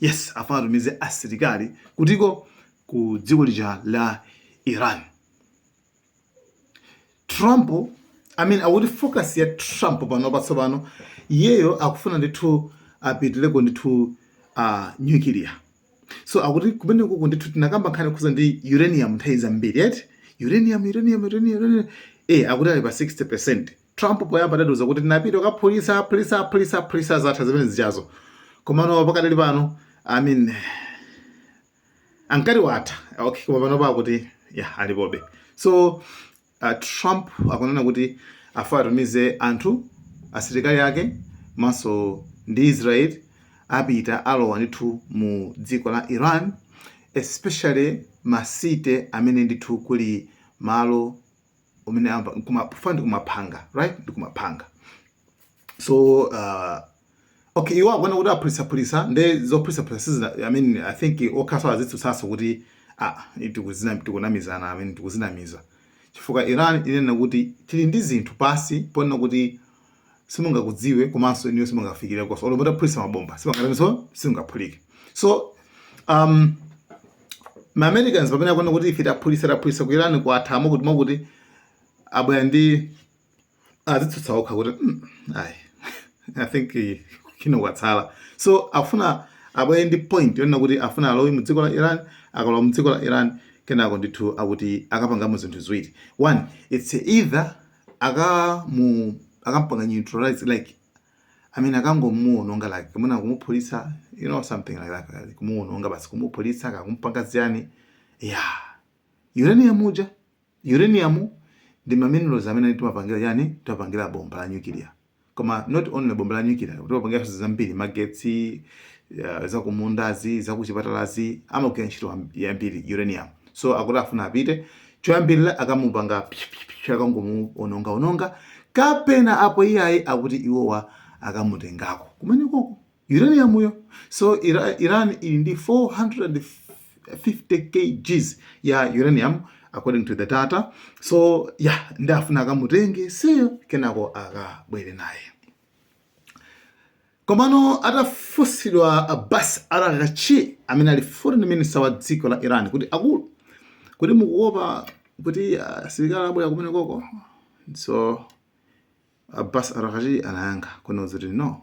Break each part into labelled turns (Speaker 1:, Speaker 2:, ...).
Speaker 1: yes afuna atumize asilikali kutiko ku dziko lija la iran trump i mean akuti focus ya trump pano patsopano iyeyo akufuna ndithu apitireko ndithu uh, nuclear so akuti kumenekuko ndithu tinakamba nkhani yokhudza ndi uranium nthawi zambiri eti uranium uranium uranium uranium eh akuti ali pa 60% Trump poyamba adatiuza kuti tinapita kukaphulitsa phulitsa phulitsa phulitsa zatha zimene zijazo komano pakadali pano I mean ankati watha okay koma pano pakuti ya alipobe so uh, Trump akunena kuti afuna atumize anthu asilikali ake komanso ndi Israel apita alowa ndithu mu dziko la Iran especially masite amene ndithu kuli malo umene amva nkuma kufa ndi kumapanga right ndi kumapanga so uh, okay iwo akuona kuti aphulitsaphulitsa nde zophulitsaphulitsa sizina i mean i think okhanso azitsutsanso kuti ah tikuzina tikunamizana i mean tikudzinamiza chifukwa iran inena kuti tili ndi zinthu pansi ponena kuti simungakudziwe komanso inuyo simungafikirekonso olo mutaphulitsa mabomba sipangatanso simungaphulike so um, ma americans pamene akuona kuti ife taphulitsa taphulitsa ku iran kwatha mokuti mokuti abwera ndi azitsutsa okha kuti "Mm, ayi i think eh, kino kwatsala so afuna abwere ndi point yonena kuti afuna alowe mu dziko la iran akalowa mu dziko la iran kenako ndithu akuti akapangamo zinthu ziwiri one its either akamu akampanga neutralize like I mean akangomuononga like kumuna kumuphulitsa you know something like that like, kumuononga basi kumuphulitsa kakumpanga chiyani yeah uranium uja uranium ndi maminerals amene timapangira chani timapangira bomba la nuclear koma not only bomba la nuclear timapangira zinthu zambiri magetsi uh, zakumundazi zakuchipatalazi amagwira ntchito am- yambiri uranium so akuti afuna apite choyambirira akamupanga psh, psh, psh, akangomuononga ononga kapena apo iyayi akuti iwowa akamutengako kumenekoko Uranium yo so Ira, Iran ili ndi 450 kgs ya uranium according to the data so ya yeah, nde afuna akamutenge seyo kenako akabwere naye komano atafunsidwa Abbas Araghchi amene ali foreign minister wa dziko la Iran kuti akulu kuti mukuopa kuti ah, asilikali abwera kumenekoko so Abbas Araghchi anayankha kunoza kuti no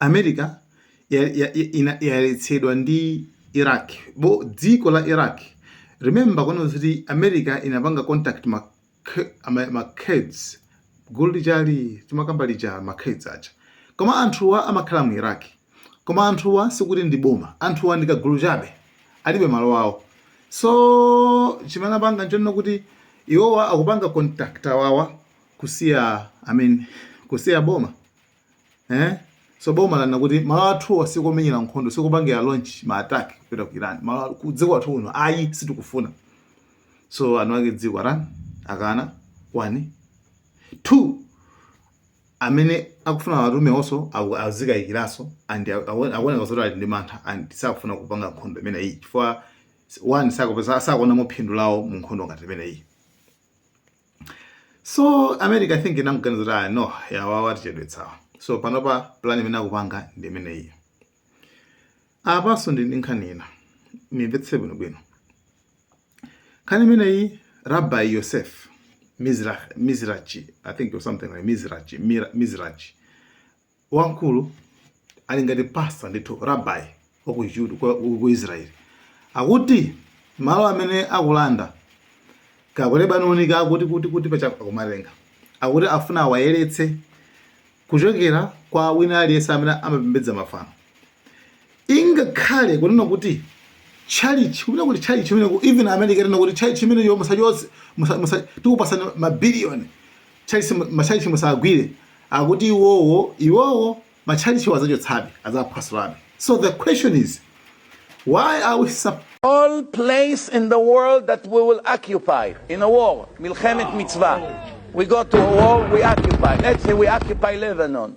Speaker 1: America ya- ya- ya- ina- yaletsedwa ndi iraq bo dziko la iraq remember kono zoti america inapanga contact ma, K- ama- ma kurds gulu lijali timakamba lija ma kurds aja koma anthuwa amakhala mu iraq koma anthuwa sikuti ndi boma anthuwa ndi kagulu chabe alibe malo awo so chimene apanga nchonena kuti iwowa akupanga contact awawa kusiya i mean kusiya boma eh so boma lanena kuti malo athuwa sikomenyera nkhondo sikupangira launch ma attack kupita ku Iran malo ku dziko lathu kuno ayi sitikufuna so anawake dziko Iran akana one two amene akufuna awatume onso azikayikiranso and akuoneka zoti ali ndi mantha and sakufuna kupanga nkhondo imeneyi chifukwa one sakuonamo phindu lawo mu nkhondo ngati imeneyi so america i think inamganiza kuti ah, no yawawa tichedwetsawa so panopa plan imene akupanga ndi imeneyi apanso ndi ndi nkhani ina muimvetse bwinobwino nkhani imeneyi rabbi yosef Mizra- mizrachi i think or something like mizrachi Mira- mizrachi wamkulu ali ngati pasta ndithu rabbi wa ku Jude kwa- ku ku Israel akuti malo amene akulanda kaku Lebanoni kakuti kuti kuti paja akumatenga akuti afuna awayeretse kuchokera kwa wina aliyense amene amapembedza mafano ingakhale kunena kuti chalichi kunena kuti chalichi imeneko even america itanena kuti chalichi imeneyo musachotse musa- musa- tikupasani mabiliyoni chalichi machalichi musagwire akuti iwowo iwowo machalichiwo azachotsabe azaphwasulabe so the question is why are we sup-
Speaker 2: all place in the world that we will occupy in a war, Milchemet Mitzvah. We go to a war, we occupy. Let's say we occupy Lebanon.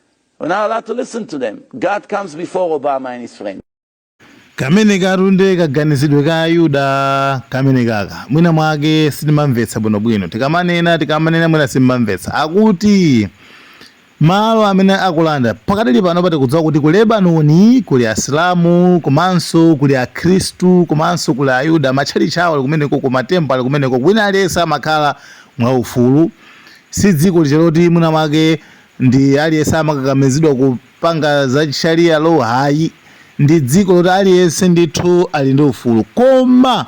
Speaker 2: We're not allowed to listen to them. God comes before Obama and his friends.
Speaker 1: kamene katu nde kaganizidwe ka ayuda kamene kaka mwina mwake sitimamvetsa bwinobwino tikamanena tikamanena mwina simamvetsa akuti malo amene akulanda pakadali pano paja tikudziwa kuti ku lebanoni kuli asilamu komanso kuli akhristu komanso kuli ayuda matchalitchi awo ali kumeneko ku ma temple ali kumeneko wina aliyense amakhala mwaufulu si dziko lija loti mwina mwake ndi aliyense amakakamizidwa kupanga za sharia law ayi ndi dziko loti aliyense ndithu ali ndi ufulu koma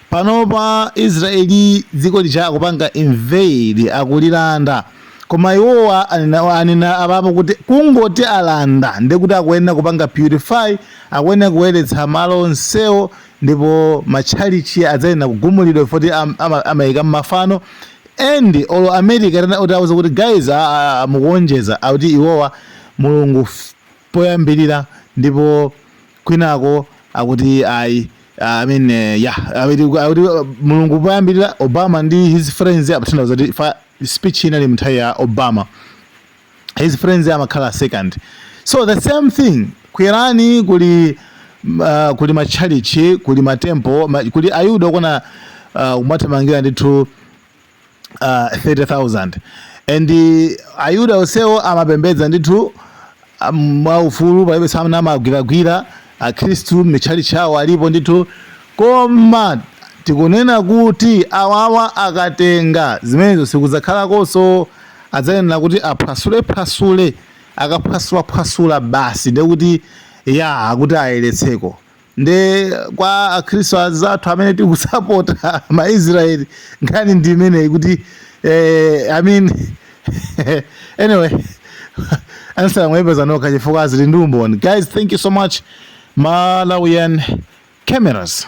Speaker 1: panopa israeli dziko lija akupanga invade akulilanda koma iwowa anena- anena apapo kuti kungoti alanda ndekuti akuyenera kupanga purify akuyenera kuyeretsa malo onsewo ndipo matchalichi adzayenera kugumulidwa foti am- ama- amayika mmafano and olo America utawauza kuti guys aah mukuonjeza akuti iwowa Mulungu poyambilira ndipo kwinako akuti ayi I mean yah akuti akuti Mulungu poyambilira Obama ndi his friends akutanthauza kuti speech inali mnthawi ya Obama his friends amakhala second so the same thing ku Iran kuli uh, kuli matchalichi kuli matempo ma, kuli ayuda okona uh, kumathamangira ndithu uh, 30000 and uh, ayuda onsewo amapembedza ndithu um, mwaufulu palibe samawagwiragwira akhristu mitchalichi awo alipo ndithu koma tikunena kuti awawa akatenga zimenezo sikuzakhalakonso adzayenera kuti aphwasulephwasule. Akaphwasulaphwasula basi nde kuti ya akuti ayeretseko. Nde kwa Akhristu anzathu amene tikusapota ma Israel nkhani ndi imeneyi kuti eh, I mean anyway answer mwayipeza nokha chifukwa zili ndi umboni. Guys, thank you so much Malawian cameras.